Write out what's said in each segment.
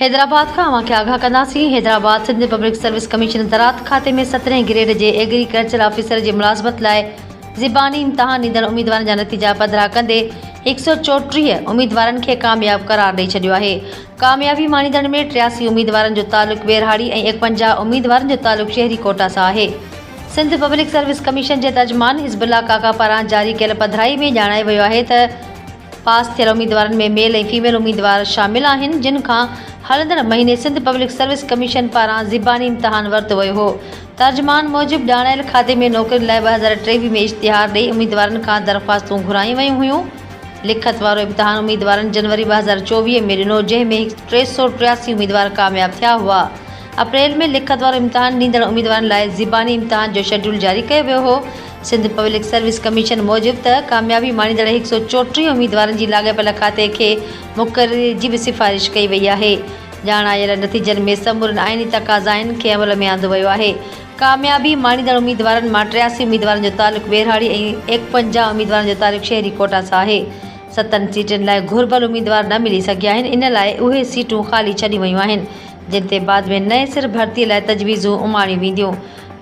حيدرآباد کان اوهان کي آگاهه ڪنداسين، Hyderabad, Sindh public service commission زراعت کاتي ۾ سترهين گريڊ جي ايگري ڪلچر آفيسر جي ملازمت لاء زباني امتحان ڏيندڙ اميدوارن جا نتيجا پڌرا ڪندي هڪ سؤ چوٽيهه اميدوارن کي ڪامياب قرار ڏئي ڇڏيو آهي. ڪاميابي ماڻيندڙن ۾ ٽياسي اميدوارن جو تعلق ٻهراڙي ۽ ايڪونجاهه اميدوارن جو تعلق شهري ڪوٽا سان آهي. سنڌ پبلڪ سروس ڪميشن جي ترجمان حزب الله ڪاڪا پاران جاري ڪيل پڌرائي ۾ ڄاڻايو ويو آهي ته پاس ٿيل اميدوارن ۾ ميل ۽ فيميل اميدوار شامل آهن جن کان هلندڙ مهيني سنڌ پبلڪ سروس ڪميشن پاران زباني امتحان ورتو ويو هو ترجمان موجب ڄاڻايل کاتي ۾ نوڪرين لاء ٻه هزار ٽيويهه ۾ اشتهار ڏئي اميدوارن کان درخواستون گهرايون ويون هيون لکت وارو امتحان اميدوارن جنوري ٻه هزار چوويهه ۾ ڏنو جنهن ۾ ٽي سؤ ٽياسي اميدوار ڪامياب ٿيا هئا اپريل ۾ لکت وارو امتحان ڏيندڙ اميدوارن لاء زباني امتحان جو شيڊيول جاري ڪيو ويو هو. سنڌ پبلڪ سروس ڪميشن موجب ته ڪاميابي ماڻيندڙ هڪ سؤ چوٽيهه اميدوارن جي لاڳاپيل کاتي کي مقرري جي به سفارش ڪئي وئي آهي. ڄاڻ آيل نتيجن ۾ سمورين آئيني تقاضائن کي عمل ۾ آندو ويو آهي. ڪاميابي ماڻيندڙ اميدوارن مان ٽياسي اميدوارن جو تعلق ٻهراڙي ۽ ايڪونجاهه اميدوارن جو تعلق شهري ڪوٽا سان آهي. ستن سيٽن لاء گهربل اميدوار نه ملي سگهيا آهن ان لاء اهي سيٽون خالي ڇڏيون ويون آهن. جن تي بعد ۾ نئين سر ڀرتي لاء تجويزون اماڻيون وينديون.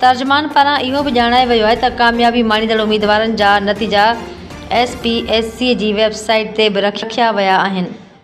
ترجمان پاران اهو به ڄاڻايو ويو آهي ته ڪاميابي ماڻيندڙ اميدوارن جا نتيجا ايس پي ايس سي جي ويب سائيٽ تي به رکيا ويا آهن.